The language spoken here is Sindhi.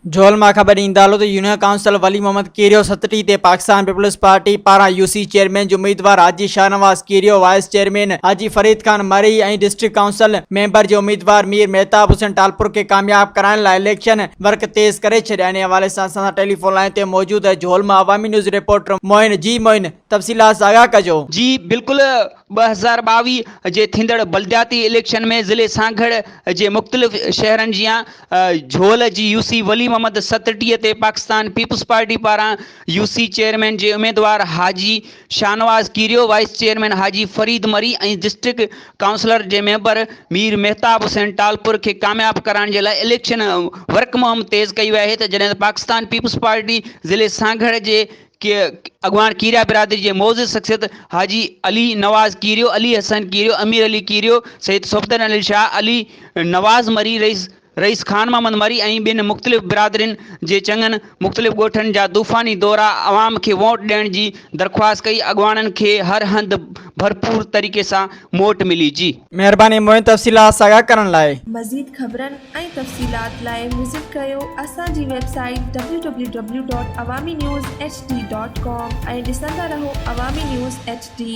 جهول مان خبر ايندڙ آهي ته يونين ڪائونسلر ولي محمد ڪيريو ستٽي تي پاڪستان پيپلز پارٽي پاران يو سي چيئرمين جي اميدوار Haji Shahnawaz Kerio vice chairman Haji Farid Khan Marri ۽ district council member جي اميدوار مير مهتاب حسين ٽالپر کي ڪامياب ڪرائڻ لاء اليڪشن ورڪ تيز ڪري ڇڏيا انهي حوالي سان اسان سان ٽيليفون لائين تي موجود جهول مان عوامي نيوز رپورٽر معين جي معين تفصيلات سان آگاهه ڪجو. جي بلڪل ٻه هزار ٻاويهه جي ٿيندڙ بلدياتي اليڪشن ۾ ضلعي سانگهڙ جي مختلف شهرن جيان جهول جي يو سي ولي محمد ستٽي تي پاڪستان پيپلز پارٽي پاران يو سي چيئرمين جي اميدوار Haji Shahnawaz Kerio, vice chairman Haji Farid Marri ۽ district councillor جي ميمبر مير مهتاب حسين ٽالپر کي ڪامياب ڪرائڻ جي لاء اليڪشن ورڪ مهم تيز ڪئي وئي آهي ته جڏهن ته پاڪستان پيپلز پارٽي ضلعي سانگهڙ جي اڳواڻ ڪيريا برادري جي معزز شخصيت حاجي علي نواز ڪيريو، علي حسن ڪيريو، امير علي ڪيريو، سيد صفدر علي شاهه، علي نواز مري، رئيس رئيس خان محمد مري ۽ ٻين مختلف برادرين جي چڱن مختلف ڳوٺن جا طوفاني دورا عوام کي ووٽ ڏيڻ جي درخواست ڪئي اڳواڻن کي هر هنڌ ڀرپور طريقي سان موٽ ملي جي. مهرباني موئن تفصيلات ساڳا ڪرڻ لاء. مزيد خبرن ۽ تفصيلات لاء وزٽ ڪيو اسان جي website W W W dot Awami news H D dot com ۽ ڏسندا رهو عوامي نيوز ايڇ ڊي.